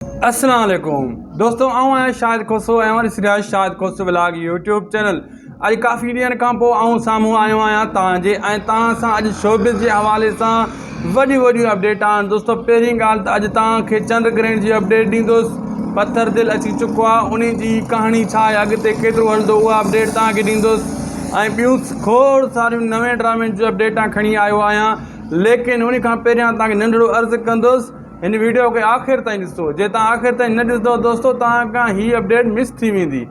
اسلام عليڪم دوستو آئون آهيان شاهد کوسو ۽ اوهان ڏسي رهيا آهيو Shahid Khoso vlog YouTube channel اڄ ڪافي ڏينهن کان پوء آئون سامهون آيو آهيان توهان جي ۽ توهان سان اڄ شوبز جي حوالي سان وڏيون وڏيون اپڊيٽ آهن دوستو پهرين ڳالهه ته اڄ توهان کي چنڊ گرهڻ جي اپڊيٽ ڏيندوس پٿر دل اچي چڪو آهي ان جي ڪهاڻي ڇا آهي اڳتي کيترو هلندو اها اپڊيٽ توهان کي ڏيندوس ۽ ٻيون کوڙ ساريون نوين ڊرامين جون اپڊيٽا کڻي آيو آهيان ليڪن ان کان پهريان توهان کي ننڍڙو عرض ڪندوس هن ويڊيو کي آخر تائين ڏسو جي توهان آخر تائين نه ڏسندو دوستو توهان کان هي اپڊيٽ مس ٿي ويندي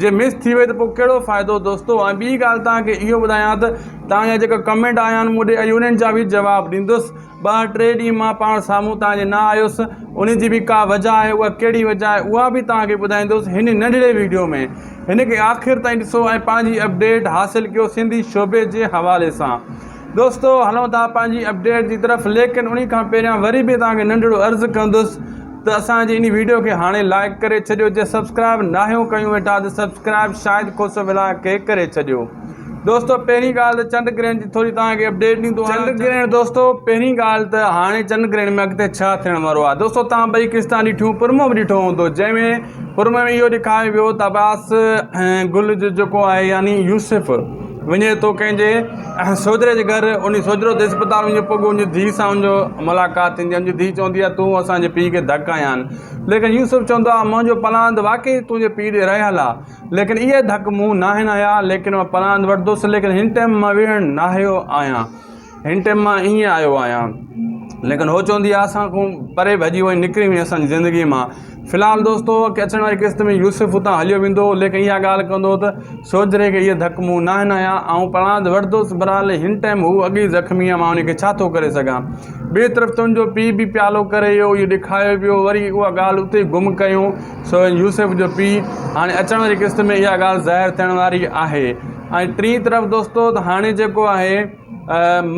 جي مس ٿي وئي ته پوء ڪهڙو فائدو دوستو ۽ ٻي ڳالهه توهان کي اهو ٻڌايان ته توهان جا جيڪا ڪمينٽ آيا آهن مون ڏي اڄ انهن جا به جواب ڏيندس ٻه ٽي ڏينهن مان پاڻ سامهون توهان جي نه آيس ان جي به ڪا وجه آهي اها ڪهڙي وجه آهي اها به توهان کي ٻڌائيندس هن ننڍڙي ويڊيو ۾ هن کي آخر تائين ڏسو ۽ پنهنجي اپڊيٽ حاصل ڪيو سنڌي شعبي جي حوالي سان دوستو هلون ٿا پنهنجي اپڊيٽ جي طرف ليڪن انهي کان پهريان وري به توهان کي ننڍڙو عرض ڪندس ته اسان جي انهي ويڊيو کي هاڻي لائڪ ڪري ڇڏيو جي سبسڪرائب ناهيو ڪيون ويٺا ته سبسڪرائب شاهد کوسو ولاگ کي ڪري ڇڏيو دوستو پهرين ڳالهه ته چنڊ گرهڻ جي ٿوري توهان کي اپڊيٽ ڏيندو آهيان چنڊ گرهڻ دوستو پهرين ڳالهه ته هاڻي چنڊ گرهڻ ۾ اڳتي ڇا ٿيڻ وارو آهي دوستو توهان ٻئي قسطان ڏٺيون پرمو به ڏٺو هوندو جنهن ۾ پرمو ۾ اهو ڏيکايو ويو ته عباس گل جو جيڪو آهي يعني يوسف وڃي ٿو ڪنهن جي سوجهري جي گهر انهي سوجهرو تي اسپتال وڃي پڳو انهي ڌي سان ان جو ملاقات ٿيندي آهي ان جي ڌي چوندي آهي تون اسان جي پيء کي ڌڪ هنيا آهن ليڪن يوسف چوندو آهي منهنجو پلاند واقعي تنهنجي پيء ڏي رهيل آهي ليڪن اهي ڌڪ مون ناهن هنيا ليڪن مان پلاند وٺندس ليڪن هن ٽيم مان ويهڻ ناهيو آهيان هن ٽيم مان ايئن آيو آهيان. ليڪن هوء چوندي آهي اسان کان پري ڀڄي وئي، نڪري وئي اسان جي زندگيء مان. في الحال دوست هوء ڪي اچڻ واري قسط ۾ يوسف اتان هليو ويندو هو، ليڪن اها ڳالهه ڪندو هو ته سوجهري کي اهي ڌڪ مون ناهن هنيا، آئون پاڻ ته وٺندس، برحال هن ٽيم هوء اڳ ئي زخمي آهي، مان انهيء کي ڇا ٿو ڪري سگهان. ٻئي طرف تنهنجو پيء به پيالو ڪري ويو، اهو ڏکايو ويو، وري اها ڳالهه اتي ئي گم ڪيائون. سو هن يوسف جو پيء هاڻي اچڻ واري قسط ۾ اها ڳالهه ظاهر ٿيڻ واري آهي. ۽ ٽين طرف دوستو ته هاڻي جيڪو آهي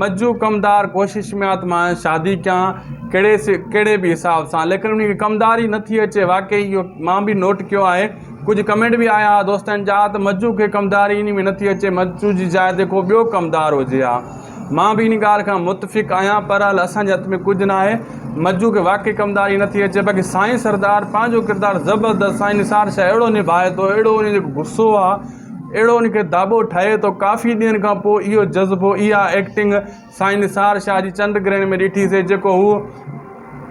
مجو ڪمدار ڪوشش ۾ آ ته مان شادي ڪيان ڪهڙي سي ڪهڙي به حساب سان ليڪن ان کي ڪمداري نه ٿي اچي واقعي اهو مان به نوٽ ڪيو آهي ڪجهه ڪمينٽ به آيا هئا دوستن جا ته مجو کي ڪمداري ان ۾ نه ٿي اچي مجو جي جاء تي ڪو ٻيو ڪمدار هجي ها مان به ان ڳالهه کان متفق آهيان پر هل اسان جي هٿ ۾ ڪجهه نه آهي مجو کي واقعي ڪمداري نه ٿي اچي باقي سائين سردار پنهنجو ڪردار زبردست سائين نثار شاهه اهڙو نڀائي ٿو اهڙو ان جو غصو آ اهڙو ان کي داٻو ٺهي ٿو ڪافي ڏينهن کان پوء اهو جذبو اها ايڪٽنگ سائين نثار شاهه جي چنڊ گرهڻ ۾ ڏٺي سي جيڪو هو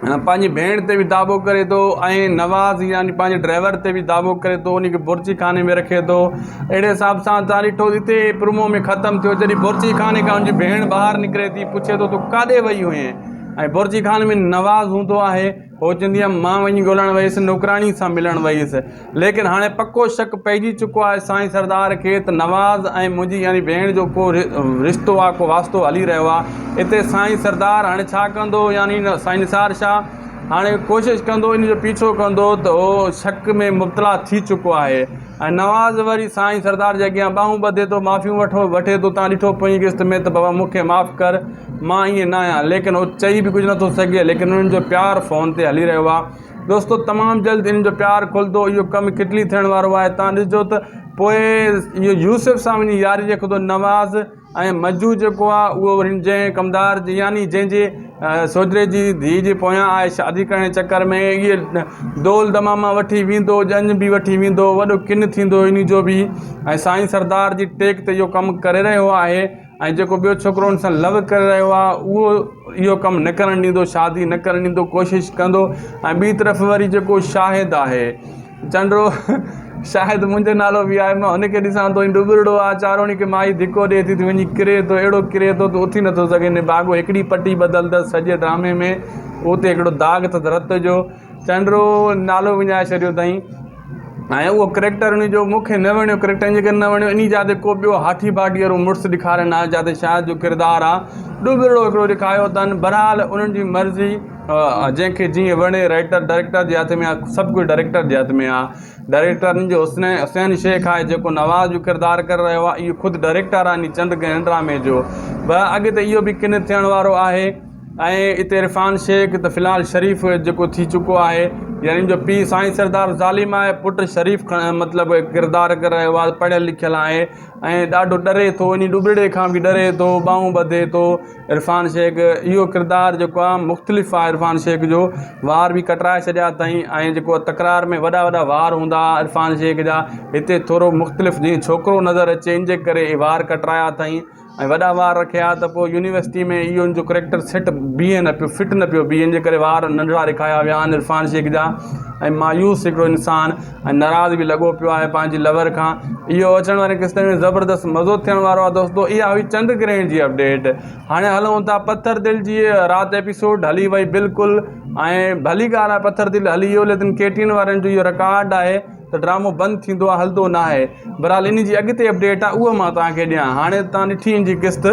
پنهنجي ڀيڻ تي به داٻو ڪري ٿو ۽ نواز يعني پنهنجي ڊرائيور تي به داٻو ڪري ٿو ان کي بورچي خاني ۾ رکي ٿو اهڙي حساب سان تان ڏٺو هتي پرومو ۾ ختم ٿيو جڏهن بورچي خاني کان ان جي ڀيڻ ٻاهر نڪري ٿي پڇي ٿو تون ڪاڏي وئي هئين ۽ بورچي خاني ۾ نواز هوندو آهي سوچيندي هيم مان وڃي ڳولڻ ويس، نوڪراڻي سان ملڻ ويس. ليڪن هاڻي پڪو شڪ پئجي چڪو آهي سائين سردار کي ته نواز ۽ منهنجي يعني ڀيڻ جو ڪو رشتو آ ڪو واسطو هلي رهيو آ. اتي سائين سردار هاڻي ڇا ڪندو يعني سائين نثار شاهه هاڻي ڪوشش ڪندو ان جو پيڇو ڪندو ته هو شڪ ۾ مبتلا ٿي چڪو آهي. ۽ نواز وري سائين سردار جي اڳيان ٻانهون ٻڌي ٿو، معافيون وٺو، وٺي ٿو، تان ڏٺو پوئين قسط ۾ ته بابا مون کي معاف ڪر، مان ائين ناهيان، ليڪن هو چئي به ڪجهه نٿو سگهي، ليڪن انهن جو پيار فون تي هلي رهيو آهي، دوستو تمام جلد انهن جو پيار کلندو، اهو ڪم ڪٽلي ٿيڻ وارو آهي، تان ڏسجو ته پوء اهو يوسف سان وڃي ياري رکندو، نواز. ۽ مجوء جيڪو آهي اهو وري هن جنهن ڪمدار جي يعني جنهن جي سوجري جي ڌيء جي پويان آهي شادي ڪرڻ جي چڪر ۾ اهي دول دماما وٺي ويندو ڄڃ به وٺي ويندو وڏو ڪن ٿيندو ان جو به ۽ سائين سردار جي ٽيڪ تي اهو ڪم ڪري رهيو آهي ۽ جيڪو ٻيو ڇوڪرو ان سان لو ڪري رهيو آهي اهو اهو ڪم نه ڪرڻ ڏيندو شادي نه ڪرڻ ڏيندو ڪوشش ڪندو ۽ ٻي طرف وري جيڪو شاهد آهي چنڊو، شايد منهنجو نالو به آهي. مان هن کي ڏسان ٿو. هي ڏٻرڙو آهي. چاروڻي کي مائي ڌڪو ڏئي ٿي ته وڃي ڪري ٿو. اهڙو ڪري ٿو ته اٿي نٿو سگهي. نڀاڳو هڪڙي پٽي بدلندس سڄي ڊرامي ۾ اهو اتي هڪڙو داغ اٿس رت جو. چنڊو نالو وڃائي ڇڏيو اٿائين ۽ اهو ڪريڪٽر ان جو مون کي نه وڻيو. ڪريڪٽر ان ڪري نه وڻيو انهي جا تي ڪو ٻيو هاٺي ڀاٺي وارو مڙس ڏيکارين ها جا تي شايد جو ڪردار آهي ڏٻرڙو هڪڙو ڏيکاريو اٿن. بهرحال انهن جي مرضي. جنهن کي جيئن وڻي رائيٽر ڊائريڪٽر جي هٿ ۾ آهي سڀ ڪجهه ڊائريڪٽر جي هٿ ۾ آهي ڊائريڪٽرن جو حسن حسين شيخ آهي جيڪو نواز جو ڪردار ڪري رهيو آهي اهو خود ڊائريڪٽر آهي چند گهڙن ڊرامي جو به اڳ ته اهو به ڪن ٿيڻ وارو آهي ۽ اتي عرفان شيخ ته فلحال شريف جيڪو ٿي چڪو آهي يعني ان جو پيء سائين سردار ظالم آهي پٽ شريف مطلب ڪردار ڪري رهيو آهي پڙهيل لکيل آهي ۽ ڏاڍو ڏري ٿو ان ڏوٻڙي کان به ڏري ٿو ٻانهون ٻڌي ٿو عرفان شيخ اهو ڪردار جيڪو آهي مختلف آهي عرفان شيخ جو وار به ڪٽرائي ڇڏيا اٿائين ۽ جيڪو آهي تڪرار ۾ وڏا وڏا وار هوندا هئا عرفان شيخ جا هتي ٿورو مختلف جيئن ڇوڪرو نظر اچي ان جي ڪري اهي وار ڪٽرايا اٿائين ۽ وڏا وار رکيا ته پوء يونيورسٽي ۾ اهو ان جو ڪريڪٽر سيٽ بيهي نه پيو فٽ نه پيو بيهي ان جي ڪري وار ننڍڙا رکايا ويا آهن عرفان شيخ جا ۽ مايوس هڪڙو انسان ۽ ناراض به لڳو پيو آهي پنهنجي لور کان اهو اچڻ وارين قسطن ۾ زبردست مزو ٿيڻ وارو آهي دوستو اها هئي چنڊ گرهڻ جي اپڊيٽ هاڻي هلون ٿا پٿر دل جي رات ايپيسوڊ هلي وئي بلڪل ۽ ڀلي ڳالهه آهي پٿر دل هلي ويو ليڪن ڪيٽين وارن جو اهو رڪارڊ آهي ته ڊرامو بند ٿيندو آهي هلندو ناهي بھرحال انھي جي اڳتي اپڊيٽ آ اھو مان توھان کي ڏيان ھاڻي ته توھان ڏٺي انھي جي قسط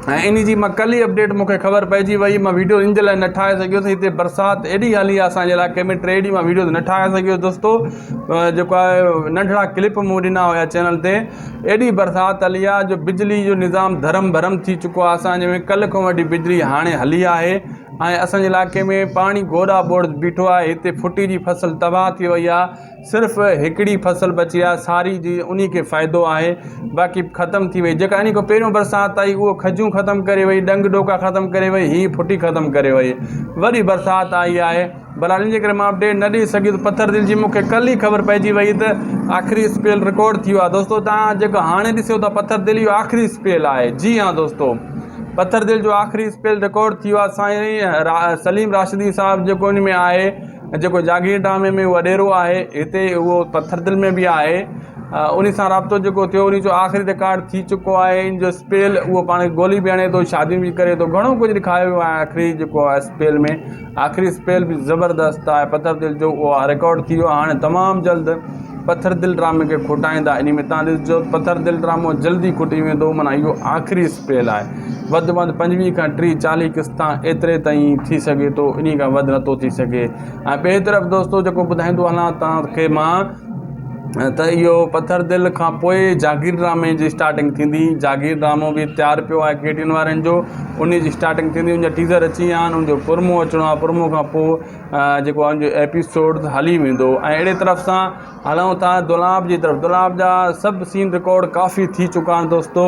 ۽ انھي جي مان ڪل ئي اپڊيٽ مونکي خبر پئجي وئي مان ويڊيو ان جي لاء نه ٺاھي سگھيس ھتي برسات ايڏي ھلي آ اسان جي علائقي ۾ ٽي ڏينھن مان ويڊيوز نه ٺاھي سگھيس دوستو جيڪو آ ننڍڙا ڪلپ مون ڏنا ھيا چينل تي ايڏي برسات ھلي آ جو بجلي جو نظام ڌرم ڀرم ٿي چڪو آ اسان جي ۾ ڪل کان وٺي بجلي ھاڻي ھلي آھي ۽ اسان جي علائقي ۾ پاڻي گوڏا ٻوڙ بيٺو آ ھتي ڦٽي جي فصل تباھ ٿي وئي آ صرف هڪڙي فصل بچي آهي ساري جي انهي کي فائدو آهي باقي ختم ٿي وئي جيڪا انهي کان پهريون برسات آئي اهو کجون ختم ڪري وئي ڏنگ ڏوڪا ختم ڪري وئي هي ڦٽي ختم ڪري وئي وري برسات آئي آهي برحال ان جي ڪري مان اپڊيٽ نه ڏئي سگهيس پٿر دل جي مون کي ڪل ئي خبر پئجي وئي ته آخري اسپيل رڪارڊ ٿي ويو آهي دوستو تان جيڪو هاڻي ڏسيو ٿا پٿر دل اهو آخري اسپيل آهي جي هان دوستو پٿر دل جو آخري اسپيل رڪارڊ ٿي ويو آهي سائين سليم راشدي صاحب جيڪو ان ۾ آهي جيڪو جاگيردامي ۾ وڏيرو آهي، هتي اهو پٿردل ۾ به آهي. انهي سان رابطو جيڪو ٿيو، انهي جو آخري رڪارڊ ٿي چڪو آهي. ان جو اسپيل اهو پاڻ کي گولي به هڻي ٿو، شاديون به ڪري ٿو. گهڻو ڪجهه ڏيکاريو ويو آهي آخري جيڪو آهي اسپيل ۾. آخري اسپيل به زبردست آهي پٿردل جو اهو رڪارڊ ٿي ويو آهي. هاڻي تمام جلد پٿردل ڊرامي کي کوٽائيندا. انهي ۾ توهان ڏسجو ته پٿردل ڊرامو جلدي کوٽي ويندو معنيٰ اهو آخري اسپيل آهي. وڌ ۾ وڌ پنجويهه کان ٽيهه چاليهه قسطا ايتري تائين ٿي سگهي ٿو انهي کان وڌ نه ٿو ٿي سگهي ۽ ٻئي طرف دوستو جيڪو ٻڌائيندو هلان توهان کي مان ته اهو پٿر دل کان پوء جاگير ڊرامي جي اسٽارٽنگ ٿيندي جاگير ڊرامو به تيار پيو آهي ڪي ٽي اين وارن جو انهي جي اسٽارٽنگ ٿيندي ان جا ٽيزر اچي ويا آهن ان جو پرمو اچڻو آهي پرمو کان پوء جيڪو ان جو ايپيسوڊ هلي ويندو ۽ اهڙي طرف سان هلون ٿا دولاب جي طرف دولاب جا سڀ سين رڪارڊ ڪافي ٿي چڪا آهن دوستو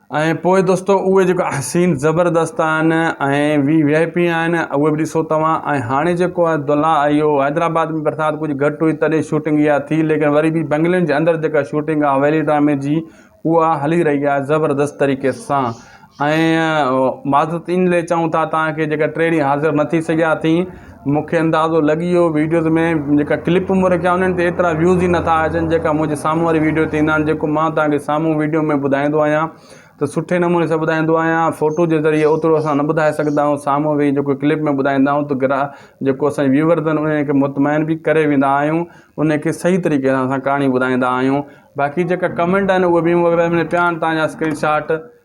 ۽ پوء دوستو اهي جيڪو احسين زبردست آهن ۽ وي وي آء پي آهن اهي به ڏسو توهان ۽ هاڻي جيڪو آهي دلها اهو حيدرآباد ۾ برسات ڪجهه گهٽ هئي تڏهن شوٽنگ اها ٿي ليڪن وري به بنگلين جي اندر جيڪا شوٽنگ آهي ويلي ڊرامي جي اها هلي رهي آهي زبردست طريقي سان ۽ معذرت ان لئي چئون ٿا تان کي جيڪا ٽي ڏينهن حاضر نه ٿي سگهيا ٿي مونکي اندازو لڳي ويو ويڊيوز ۾ جيڪا ڪلپ مون رکيا انهن تي ايترا ويوز ئي نٿا اچن جيڪا منهنجي سامهون واري ويڊيو تي ايندا آهن جيڪو مان توهان کي سامهون ويڊيو ۾ ٻڌائيندو آهيان ته سٺي نموني سان ٻڌائيندو آهيان فوٽو جي ذريعي اوترو اسان نه ٻڌائي سگهندا آهيون سامهون ويهي جيڪو ڪلپ ۾ ٻڌائيندا آهيون ته گرا جيڪو اسان ويورز آهن انهن کي مطمئن بي ڪري ويندا آهيون انهن کي صحيح طريقي سان اسان ڪهاڻي ٻڌائيندا آهيون باقي جيڪا ڪمينٽ آهن اهي بي مون وغيره ۾ پيا آهن تهان جا اسڪرين شاٽ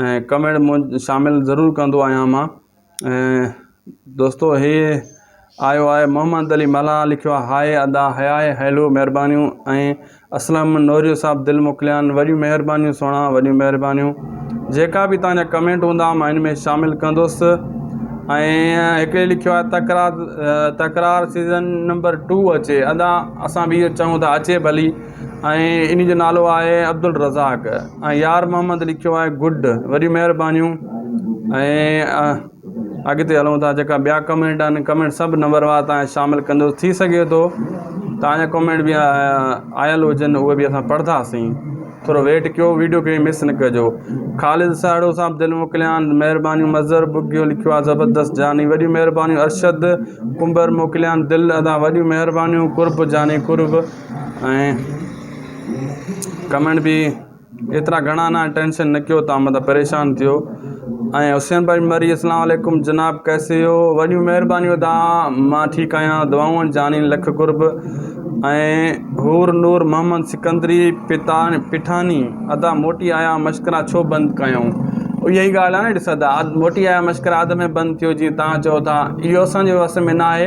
۽ ڪمينٽ مون شامل ضرور ڪندو آهيان مان ۽ دوستو هي آيو آهي محمد علي ملاح لکيو آهي هاء ادا هياء هيلو مهربانيون ۽ اسلم نوريو صاحب دل موڪليان وڏيون مهربانيون سهڻا وڏيون مهربانيون جيڪا به تنهنجا ڪمينٽ هوندا مان ان ۾ شامل ڪندوس ۽ هڪڙي لکيو آهي Takrar Takrar season number two اچي ادا اسان به اهو چاهيون ٿا اچي ڀلي ۽ انهي جو نالو آهي عبدالرزاق ۽ يار محمد لکيو آهي گڊ وڏيون مهربانيون ۽ اڳتي هلون ٿا جيڪا ٻيا ڪمينٽ آهن ڪمينٽ سڀ نمبر وار تان شامل ڪندو ٿي سگهي ٿو تان جا ڪمينٽ بي آيل هجن اهي به اسان پڙهنداسين ٿورو ويٽ ڪيو ويڊيو کي مس نه ڪجو خالد ساڙو صاحب دل موڪليان مهربانيون مظهر ٻگهيو لکيو آهي زبردست جاني وڏيون مهربانيون ارشد ڪنڀر موڪليان دل ادا وڏيون مهربانيون قرب جاني قرب ۽ ڪمينٽ به ايترا گهڻا نه ٽينشن نه ڪيو تان مطلب پريشان ٿيو ۽ حسين بھاء مري اسلام عليڪم جناب ڪيسي ھو وڏيون مھربانيون تان مان ٺيڪ آھيان دعائون جانين لک قرب ۽ حور نور محمد سڪندري پتا پٺاڻي ادا موٽي آيا مشڪرا ڇو بند ڪيائون اھي ئي ڳالھ آھي ڏس ادا موٽي آيا مشڪرا اڌ ۾ بند ٿيو جي تان چئو ٿا اھو اسان جي وس ۾ ناھي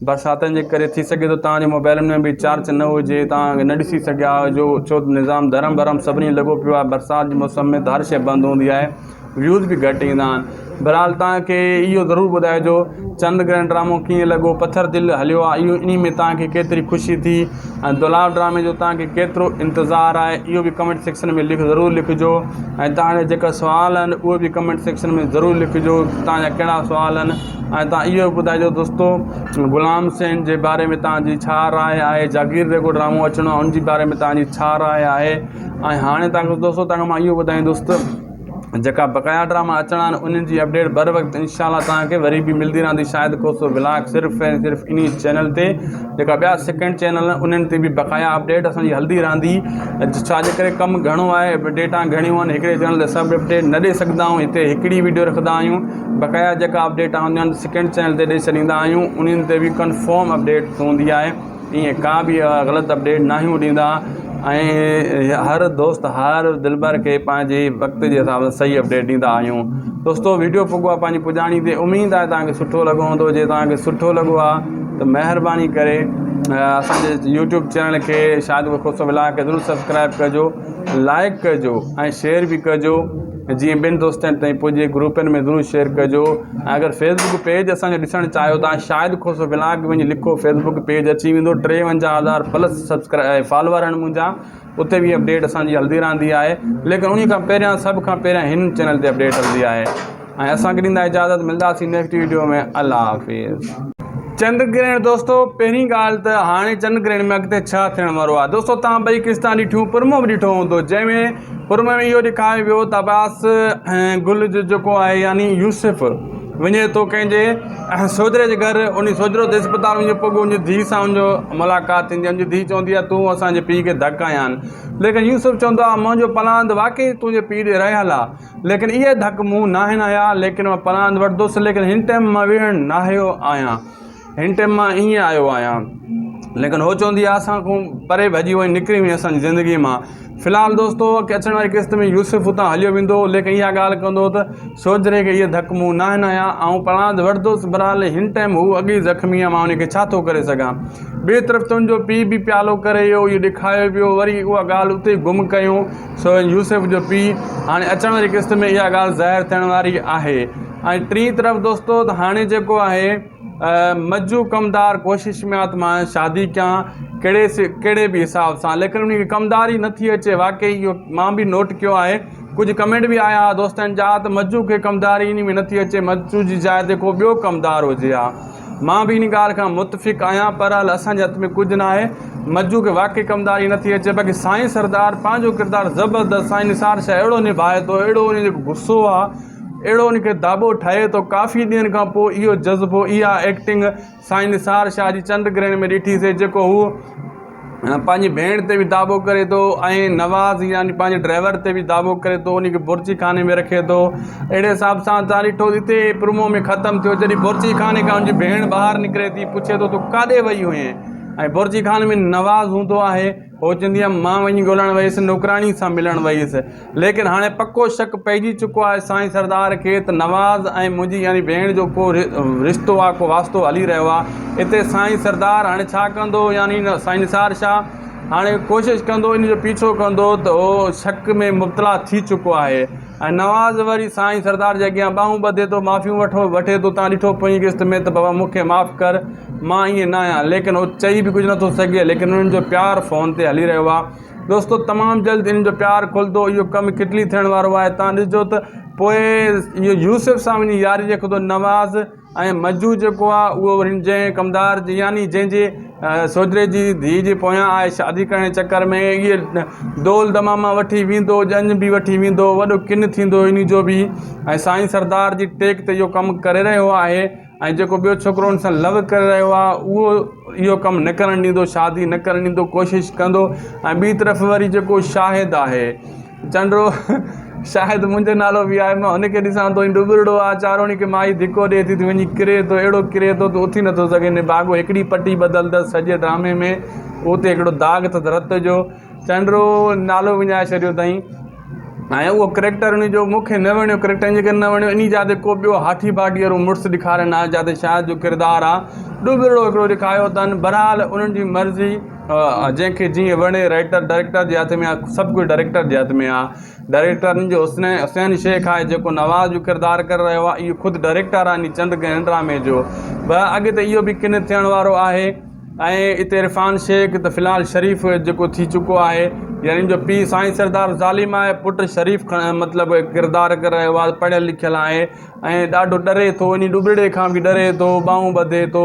برساتن جي ڪري ٿي سگهي ٿو توهان جي موبائلن ۾ به چارچ نه هجي توهان نه ڏسي سگهيا هجو ڇو ته نظام درهم برهم سڀني لڳو پيو آهي برسات جي موسم ۾ ته هر شيء بند هوندي آهي ويوز به گهٽ ايندا آهن بهرحال توهان کي اهو ضرور ٻڌائجو چند گرهن ڊرامو ڪيئن لڳو پٿر دل هليو آهي اهو انهي ۾ توهان کي ڪيتري خوشي ٿي ۽ دولاب ڊرامي جو توهان کي ڪيترو انتظار آهي اهو به ڪمينٽ سيڪشن ۾ لک ضرور لکجو ۽ توهان جا جيڪا سوال آهن اهي به ڪمينٽ سيڪشن ۾ ضرور لکجو توهان جا ڪهڙا سوال آهن ۽ تان اهو به ٻڌائجو دوستو غلام سين جي باري ۾ تان جي ڇا راء آهي جاگير جيڪو ڊرامو اچڻو آهي ان جي باري ۾ تان جي ڇا راء آهي ۽ هاڻي تان دوستو تان کي مان اهو ٻڌائين دوست جيڪا بقايا ڊراما اچڻا آهن انهن جي اپڊيٽ بر وقت انشاء الله تان کي وري به ملدي رهندي شاهد کوسو ولاگ صرف ۽ صرف انهي چينل تي جيڪا ٻيا سيڪنڊ چينل آهن انهن تي به بقايا اپڊيٽ اسان جي هلدي رهندي ڇا جي ڪري ڪم گهڻو آهي اپڊيٽا گهڻيون آهن هڪڙي چينل تي سڀ اپڊيٽ نه ڏئي سگهندا آهيون هتي هڪڙي ويڊيو رکندا آهيون بقايا جيڪا update on demand second channel تي ڏئي ڇڏيندا آهيون انهن تي به ڪنفرم اپڊيٽ هوندي آهي ائين ڪا به غلط اپڊيٽ ناهيون ڏيندا ۽ هر دوست هر دلبر کي پنهنجي وقت جي حساب سان صحيح اپڊيٽ ڏيندا آهيون دوستو ويڊيو پڳو آهي پنهنجي پڄاڻي تي اميد آهي توهان کي سٺو لڳو هوندو جي توهان کي سٺو لڳو آهي ته مهرباني ڪري اسانجي يوٽيوب چينل کي شاهد خوسو ولاگ کي ضرور سبسڪرائب ڪجو لائڪ ڪجو ۽ شيئر به ڪجو جيئن ٻين دوستن تائين پڄي گروپن ۾ ضرور شيئر ڪجو ۽ اگر فيسبڪ پيج اسان جو ڏسڻ چاهيو ٿا شاهد کوسو ولاگ وڃي لکو فيسبڪ پيج اچي ويندو ٽيونجاهه هزار پلس سبسڪرائب فالوور آهن منهنجا اتي به اپڊيٽ اسان جي هلندي رهندي آهي ليڪن انهي کان پهريان سڀ کان پهريان هن چينل تي اپڊيٽ هلندي آهي ۽ اسان کي ڏيندا اجازت ملنداسين نيڪسٽ ويڊيو ۾ الله حافظ چنڊ گرهڻ دوستو پهرين ڳالهه ته هاڻي چنڊ گرهڻ ۾ اڳتي ڇا ٿيڻ وارو آهي دوستو تان ٻئي قسطان ڏٺيون پرمو به ڏٺو هوندو جنهن ۾ پر ۾ اهو ڏيکاري ويو ته عباس ۽ گل جو جيڪو آهي يعني يوسف وڃي ٿو ڪنهن جي سوجهري جي گهر ان سوجهرو ته اسپتال وڃي پوء بي ان جي ڌيء سان ان جو ملاقات ٿيندي آهي ان جي ڌيء چوندي آهي تون اسانجي پيء کي ڌڪ هنيا آهن ليڪن يوسف چوندو آهي منهنجو پلاند واقعي تنهنجي پيء ڏي رهيل آهي ليڪن اهي ڌڪ مون ناهن هنيا ليڪن مان پلاند وٺندس ليڪن هن ٽئم مان ويهڻ ناهيو آهيان هن ٽيم مان ايئن آيو آهيان ليڪن هو چوندي آهي اسان کان پري ڀڄي وئي نڪري وئي اسان جي زندگي مان في الحال دوستو اڳتي اچڻ واري قسط ۾ يوسف اتان هليو ويندو هو ليڪن اها ڳالهه ڪندو ته سوچ رهي ڪي هي ڌڪ مون نه هنيا آهيان آئون پرانڌ وٺندوس برحال هن ٽيم هو اڳ ئي زخمي آهي مان ان کي ڇا ٿو ڪري سگهان ٻئي طرف تنهنجو پيء به پيالو ڪري ويو اهو ڏکايو پيو وري اها ڳالهه اتي ئي گم ڪيون سو يوسف جو پيء هاڻي اچڻ واري قسط ۾ اها ڳالهه ظاهر ٿيڻ واري آهي ۽ ٽين طرف دوستو ته هاڻي جيڪو آهي مجو ڪمدار ڪوشش ۾ آ ته مان شادي ڪيان ڪهڙي سي ڪهڙي به حساب سان ليڪن ان کي ڪمدار ئي نٿي اچي واقعي اهو مان به نوٽ ڪيو آهي ڪجهه ڪمينٽ به آيا هئا دوستن جا ته مجو کي ڪمداري ان ۾ نٿي اچي مجو جي جاء تي ڪو ٻيو ڪمدار هجي ها مان به ان ڳالهه کان متفق آهيان پر هل اسان جي هٿ ۾ ڪجهه نه آهي مجو کي واقعي ڪمداري نٿي اچي باقي سائين سردار پنهنجو ڪردار زبردست سائين نثار شاهه اهڙو نڀائي ٿو اهڙو ان جو غصو آ اهڙو ان کي داٻو ٺهي ٿو ڪافي ڏينهن کان پوء اهو جذبو اها ايڪٽنگ سائين نثار شاهه جي چنڊ گرهڻ ۾ ڏٺيسي جيڪو هو پنهنجي ڀيڻ تي به داٻو ڪري ٿو ۽ نواز يعني پنهنجي ڊرائيور تي به داٻو ڪري ٿو ان کي بورچي خاني ۾ رکي ٿو اهڙي حساب سان تان ڏٺو هتي پرومو ۾ ختم ٿيو جڏهن بورچي خاني کان ان جي ڀيڻ ٻاهر نڪري ٿي پڇي ٿو تو ڪاڏي وئي هئين ۽ بورچي خاني ۾ نواز هوندو آهي سوچيندي هيم مان وڃي ڳولڻ ويس، نوڪراڻي سان ملڻ ويس. ليڪن هاڻي پڪو شڪ پئجي چڪو آهي سائين سردار کي ته نواز ۽ منهنجي يعني ڀيڻ جو ڪو رشتو آ، ڪو واسطو هلي رهيو آ. اتي سائين سردار هاڻي ڇا ڪندو يعني سائين نثار شاهه هاڻي ڪوشش ڪندو ان جو پيڇو ڪندو ته هو شڪ ۾ مبتلا ٿي چڪو آهي. ۽ نواز وري سائين سردار جي اڳيان ٻانهون ٻڌي ٿو، معافيون وٺو، وٺي ٿو، تان ڏٺو پوئين قسط ۾ ته بابا مون کي معاف ڪر، مان ائين ناهيان، ليڪن هو چئي به ڪجهه نٿو سگهي، ليڪن انهن جو پيار فون تي هلي رهيو آهي. دوستو تمام جلد انهن جو پيار کلندو، اهو ڪم ڪٽلي ٿيڻ وارو آهي، تان ڏسجو ته پوء اهو يوسف سان وڃي ياري رکندو، نواز. ۽ مجوء جيڪو آهي اهو وري هن جنهن ڪمدار جي يعني جنهن جي سوجري جي ڌيء جي پويان آهي شادي ڪرڻ جي چڪر ۾ اهي دول دماما وٺي ويندو ڄڃ به وٺي ويندو وڏو ڪن ٿيندو ان جو به ۽ سائين سردار جي ٽيڪ تي اهو ڪم ڪري رهيو آهي ۽ جيڪو ٻيو ڇوڪرو ان سان لو ڪري رهيو آهي اهو اهو ڪم نه ڪرڻ ڏيندو شادي نه ڪرڻ ڏيندو ڪوشش ڪندو ۽ ٻي طرف وري جيڪو شاهد آهي چنڊو، شايد منهنجو نالو به آهي. مان هن کي ڏسان ٿو. هي ڏٻرڙو آهي. چاروڻي کي مائي ڌڪو ڏئي ٿي. تون وڃي ڪري ٿو. اهڙو ڪري ٿو تون اٿي نٿو سگهين. نڀاڳو هڪڙي پٽي بدلندس سڄي ڊرامي ۾ اهو اتي هڪڙو داغ اٿس رت جو. چنڊو نالو وڃائي ڇڏيو اٿائين. ۽ اهو ڪريڪٽر ان جو مون کي نه وڻيو. ڪريڪٽر ان ڪري نه وڻيو انهي جا تي ڪو ٻيو هاٺي باٺي وارو مڙس ڏيکارين ها جا تي شايد جو ڪردار آهي ڏٻرڙو هڪڙو ڏيکاريو اٿن. بهرحال انهن جي مرضي. جنهن کي جيئن وڻي رائيٽر ڊائريڪٽر جي هٿ ۾ آهي سڀ ڪجهه ڊائريڪٽر جي هٿ ۾ آهي ڊائريڪٽرن جو حسنين حسين شيخ آهي جيڪو نواز جو ڪردار ڪري رهيو آهي اهو خود ڊائريڪٽر آهي ني چند گهڻ ڊرامي جو به اڳتي اهو به ڪن ٿيڻ وارو آهي ۽ اتي عرفان شيخ ته فلحال شريف جيڪو ٿي چڪو آهي يعني ان جو پيء سائين سردار ظالم آهي پٽ شريف مطلب ڪردار ڪري رهيو آهي پڙهيل لکيل آهي ۽ ڏاڍو ڏري ٿو اني ڏوٻڙي کان به ڏري ٿو ٻانهون ٻڌي ٿو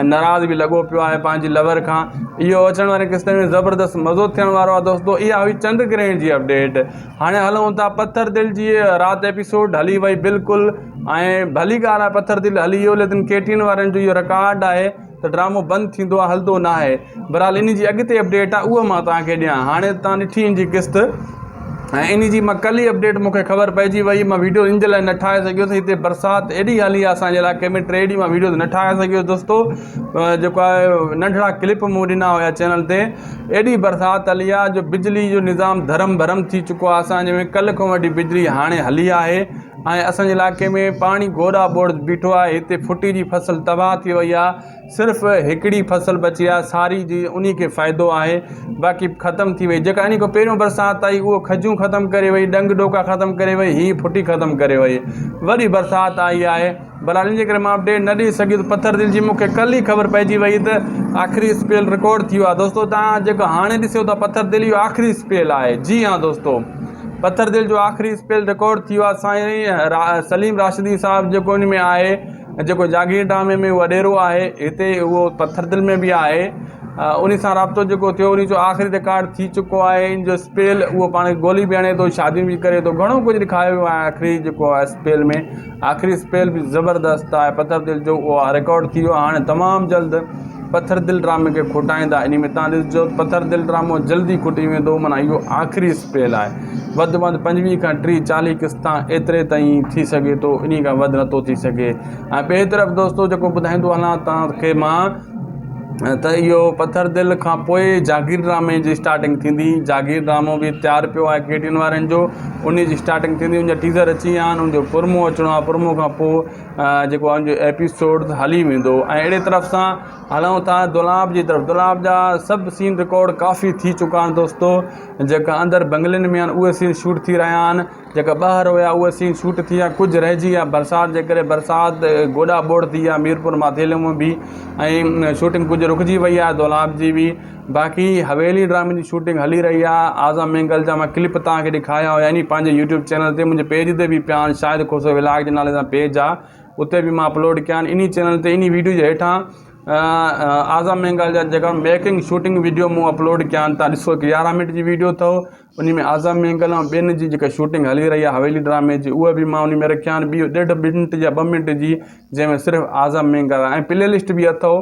۽ ناراض به لڳو پيو آهي پنهنجي لور کان اهو اچڻ وارين قسطن ۾ زبردست مزو ٿيڻ وارو آهي دوستو اها هئي چنڊ گرهڻ جي اپڊيٽ هاڻي هلون ٿا پٿر دل جي رات ايپيسوڊ هلي وئي بلڪل ۽ ڀلي ڳالهه آهي پٿر دل هلي ويو ليڪن ڪيٽين وارن جو اهو رڪارڊ آهي ته ڊرامو بند ٿيندو آهي هلندو ناهي بھرحال انھي جي اڳتي اپڊيٽ آ اھو مان توھان کي ڏيان ھاڻي تان ڏٺي ان جي قسط ۽ انھي جي مان ڪل ئي اپڊيٽ مونکي خبر پئجي وئي مان ويڊيو ان جي لاء نه ٺاھي سگھيس ھتي برسات ايڏي ھلي آ اسان جي علائقي ۾ ٽي ڏينھن مان ويڊيوز نه ٺاھي سگھيس دوستو جيڪو آ ننڍڙا ڪلپ مون ڏنا ھيا چينل تي ايڏي برسات ھلي آ جو بجلي جو نظام ڌرم ڀرم ٿي چڪو آ اسان جي ۾ ڪل کان وٺي بجلي ھاڻي ھلي آھي ۽ اسان جي علائقي ۾ پاڻي گوڙا ٻوڙ بيٺو آ ھتي ڦٽي جي فصل تباھ ٿي وئي آ صرف هڪڙي فصل بچي آهي ساري جي انهي کي فائدو آهي باقي ختم ٿي وئي جيڪا انهي کان پهريون برسات آئي اهو کجون ختم ڪري وئي ڏنگ ڏوڪا ختم ڪري وئي هي ڦٽي ختم ڪري وئي وري برسات آئي آهي برحال ان جي ڪري مان اپڊيٽ نه ڏئي سگهيس ته پٿر دل جي مون کي ڪل ئي خبر پئجي وئي ته آخري اسپيل رڪارڊ ٿي ويو آهي دوستو تان جيڪو هاڻي ڏسيو ٿا پٿر دل اهو آخري اسپيل آهي جي ها دوستو پٿر دل جو آخري اسپيل رڪارڊ ٿي ويو آهي سائين سليم راشدي صاحب جيڪو ان ۾ آهي جيڪو جاگير ڊامي ۾ وڏيرو آهي هتي اهو پٿر دل ۾ به آهي انهي سان رابطو جيڪو ٿيو انهي جو آخري رڪارڊ ٿي چڪو آهي ان جو اسپيل اهو پاڻ کي گولي به هڻي ٿو شاديون به ڪري ٿو گهڻو ڪجهه ڏيکاريو ويو آهي آخري جيڪو آهي اسپيل ۾ آخري اسپيل به زبردست آهي پٿر دل جو اهو رڪارڊ ٿي ويو هاڻي تمام جلد پٿر دل ڊرامي کي کوٽائيندا انهي ۾ توهان ڏسجو ته پٿر دل ڊرامو جلدي کوٽي ويندو معنيٰ اهو آخري اسپيل آهي وڌ ۾ وڌ پنجويهه کان ٽيهه چاليهه قسطا ايتري تائين ٿي سگهي ٿو انهي کان وڌ نٿو ٿي سگهي ۽ ٻئي طرف دوستو جيڪو ٻڌائيندو هلان توهان کي مان ته اهو پٿر دل کان پوء جاگير ڊرامي جي اسٽارٽنگ ٿيندي جاگير ڊرامو به تيار پيو آهي ڪي ٽي وي وارن جو انهي جي اسٽارٽنگ ٿيندي ان جا ٽيزر اچي ويا آهن ان جو پرمو اچڻو آهي پرمو کان پوء جيڪو ان جو ايپيسوڊ هلي ويندو ۽ اهڙي طرف سان هلون ٿا دولاب جي طرف دولاب جا سڀ سين رڪارڊ ڪافي ٿي چڪا آهن دوستو جيڪا اندر بنگلن ۾ آهن اهي سين شوٽ ٿي رهيا آهن جيڪا ٻاهر هيا اهي سين شوٽ ٿي ويا ڪجهه رهجي ويا برسات جي ڪري برسات گوڏا ٻوڙ ٿي ويا ميرپور ماٿيلي ۾ به ۽ شوٽنگ ڪجهه رڪجي وئي آهي دولاب جي به باقي حويلي ڊرامي جي شوٽنگ هلي رهي آهي اعظم مينگل جا مان ڪلپ توهان کي ڏيکاريا هيا ني پنهنجي يوٽيوب چينل تي منهنجي پيج تي به پيا آهن شاهد کوسو ولاگ جي نالي سان پيج آهي اتي به مان اپلوڊ ڪيا آهن انهي چينل تي انهي ويڊيو جي هيٺان اعظم مينگل جا جيڪا ميڪنگ شوٽنگ ويڊيو مون اپلوڊ ڪيا آهن تان ڏسو هڪ يارهن منٽ جي ويڊيو اٿو انهي ۾ اعظم مينگل ۽ ٻين جي جيڪا شوٽنگ هلي رهي آهي حويلي ڊرامي جي اهو به مان انهي ۾ رکيا آهن ٻيو ڏيڍ منٽ يا ٻه منٽ جي جنهن ۾ صرف اعظم مينگل آهي ۽ پلي لسٽ به اٿو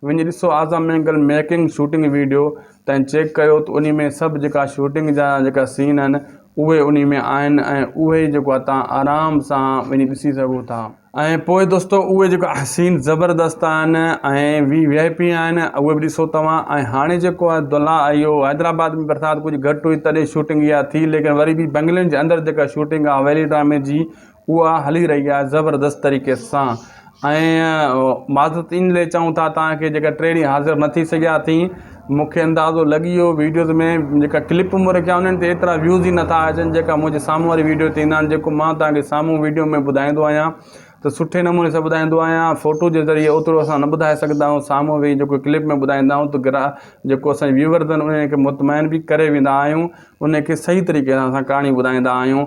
وڃي ڏسو Azam Mengal making shooting video تائين چيڪ ڪيو ته انهي ۾ سڀ جيڪا شوٽنگ جا جيڪا سين آهن اهي انهي ۾ آهن ۽ اهي ئي جيڪو آهي تهان آرام سان وڃي ڏسي سگهو ٿا ۽ پوء دوستو اهي جيڪا سين زبردست آهن ۽ وي وي آئي پي آهن اهي به ڏسو توهان ۽ هاڻي جيڪو آهي دلها اهو حيدرآباد ۾ برسات ڪجهه گهٽ هئي تڏهن شوٽنگ اها ٿي ليڪن وري به بنگلن جي اندر جيڪا شوٽنگ آهي ويلي ڊرامي جي اها هلي رهي آهي زبردست طريقي سان ۽ معذرت ان لئي چئون ٿا تانڪه جيڪا ٽي ڏينهن حاضر نه ٿي سگهيا اٿئي مونکي اندازو لڳي ويو ويڊيوز ۾ جيڪا ڪلپ مون رکيا انهن تي ايترا ويوز ئي نٿا اچن جيڪا منهنجي سامهون واري ويڊيو تي ايندا آهن جيڪو مان تانکي سامهون ويڊيو ۾ ٻڌائيندو آهيان ته سٺي نموني سان ٻڌائيندو آهيان فوٽو جي ذريعي اوترو اسان نه ٻڌائي سگهندا آهيون سامهون ويهي جيڪو ڪلپ ۾ ٻڌائيندا آهيون ته گرا جيڪو اسان ويورز آهن انهن کي مطمئن به ڪري ويندا آهيون انهن کي صحيح طريقي سان اسان ڪهاڻي ٻڌائيندا آهيون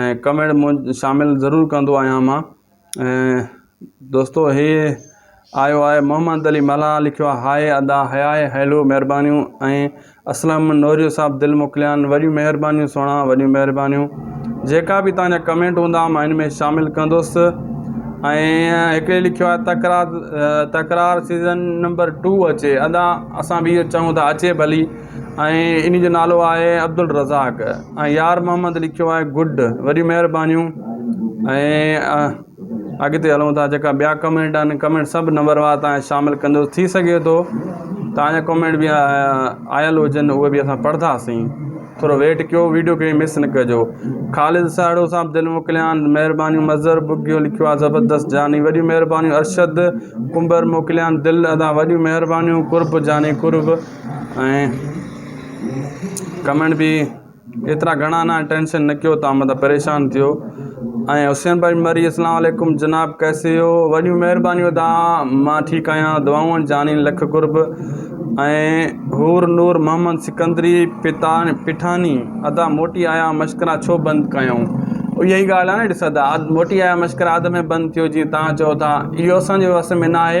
۽ ڪمينٽ مون شامل ضرور ڪندو آهيان مان ۽ دوستو هي آيو آهي محمد علي ملاح لکيو آهي هاء ادا هياء هيلو مهربانيون ۽ اسلم نوريو صاحب دل موڪليان وڏيون مهربانيون سهڻا وڏيون مهربانيون جيڪا به تهانجا ڪمينٽ هوندا مان ان ۾ شامل ڪندوس ۽ هڪڙي لکيو آهي Takrar Takrar season number two اچي ادا اسان به اهو چاهيون ٿا اچي ڀلي ۽ انهي جو نالو آهي عبدالرزاق ۽ يار محمد لکيو آهي گڊ وڏيون مهربانيون ۽ اڳتي هلون ٿا جيڪا ٻيا ڪمينٽ آهن ڪمينٽ سڀ نمبر وار تان شامل ڪندو ٿي سگهي ٿو تان جا ڪمينٽ به آيل هجن اهي به اسان پڙهنداسين ٿورو ويٽ ڪيو ويڊيو کي مس نه ڪجو خالد ساهڙو صاحب دل موڪليان مهربانيون مظهر ٻگهيو لکيو آهي زبردست جاني وڏيون مهربانيون ارشد ڪنڀر موڪليان دل ادا وڏيون مهربانيون قرب جاني قرب ۽ ڪمينٽ به ايترا گهڻا نه ٽينشن نه ڪيو تان مطلب پريشان ٿيو ۽ حسين بھاء مري اسلام عليڪم جناب ڪيسي ھو وڏيون مھربانيون ادا مان ٺيڪ آھيان دعائون جانين لک قرب ۽ حور نور محمد سڪندري پتان پٺاني ادا موٽي آيا مشڪرا ڇو بند ڪيائون اھا ئي ڳالھ آھي نه ڏس ادا موٽي آيا مشڪرا اڌ ۾ بند ٿيو جي تان چئو ٿا اھو اسان جي وس ۾ ناھي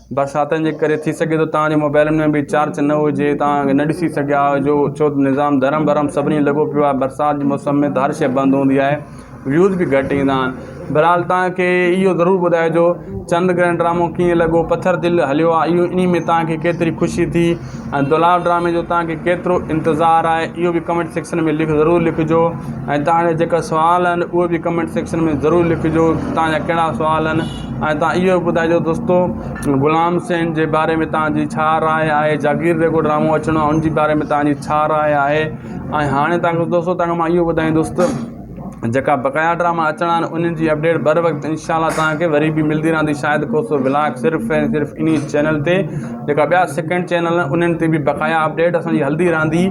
برساتن جي ڪري ٿي سگهي ٿو توهان جي موبائلن ۾ به چارچ نه هجي توهان نه ڏسي سگهيا هجو ڇو ته نظام درهم برهم سڀني لڳو پيو آهي برسات جي موسم ۾ ته هر شيء بند هوندي آهي ويوز به گهٽ ايندا آهن بهرحال توهان کي اهو ضرور ٻڌائجو چند گرهن ڊرامو ڪيئن لڳو پٿر دل هليو آهي اهو انهي ۾ توهان کي ڪيتري خوشي ٿي ۽ دولاب ڊرامي جو توهان کي ڪيترو انتظار آهي اهو به ڪمينٽ سيڪشن ۾ لک ضرور لکجو ۽ توهان جا جيڪا سوال آهن اهو به ڪمينٽ سيڪشن ۾ ضرور لکجو توهان جا ڪهڙا سوال آهن ۽ تان اهو به ٻڌائجو دوستو غلام سين جي باري ۾ تان جي ڇا راء آهي جاگير جيڪو ڊرامو اچڻو آهي ان جي باري ۾ تان جي ڇا راء آهي ۽ هاڻي تان کي دوستو تان کي مان اهو ٻڌائين دوست جيڪا بقايا ڊراما اچڻا آهن انهن جي اپڊيٽ بر وقت انشاء الله تان کي وري به ملدي رهندي شاهد کوسو ولاگ صرف ۽ صرف انهي چينل تي جيڪا ٻيا سيڪنڊ چينل آهن انهن تي به بقايا اپڊيٽ اسان جي هلدي رهندي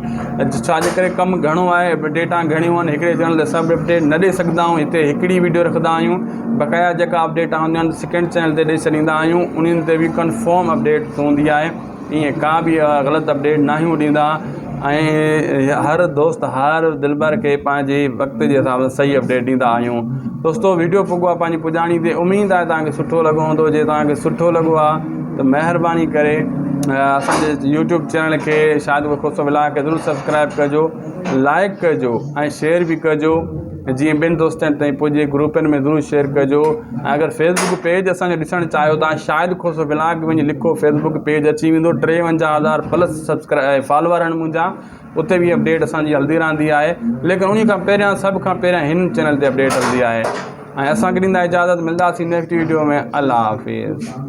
ڇا جي ڪري ڪم گهڻو آهي اپڊيٽا گهڻيون آهن هڪڙي چينل تي سڀ اپڊيٽ نه ڏئي سگهندا آهيون هتي هڪڙي ويڊيو رکندا آهيون بقايا جيڪا update on demand second channel تي ڏئي ڇڏيندا آهيون انهن تي به ڪنفرم اپڊيٽ هوندي آهي ائين ڪا به غلط اپڊيٽ ناهيون ڏيندا ۽ هر دوست هر دلبر کي پنهنجي وقت جي حساب سان صحيح اپڊيٽ ڏيندا آهيون دوستو ويڊيو پڳو آهي پنهنجي پڄاڻي تي اميد آهي توهان کي سٺو لڳو هوندو جي توهان کي سٺو لڳو آهي ته مهرباني ڪري اسانجي يوٽيوب چينل کي شاهد خوسو ولاگ کي ضرور سبسڪرائب ڪجو لائڪ ڪجو ۽ شيئر به ڪجو جيئن ٻين دوستن تائين پڄي گروپن ۾ ضرور شيئر ڪجو ۽ اگر فيسبڪ پيج اسان جو ڏسڻ چاهيو ٿا شاهد کوسو ولاگ وڃي لکو فيسبڪ پيج اچي ويندو ٽيونجاهه هزار پلس سبسڪرائب فالوور آهن منهنجا اتي به اپڊيٽ اسان جي هلندي رهندي آهي ليڪن انهي کان پهريان سڀ کان پهريان هن چينل تي اپڊيٽ هلندي آهي ۽ اسان کي ڏيندا اجازت ملنداسين نيڪسٽ ويڊيو ۾ الله حافظ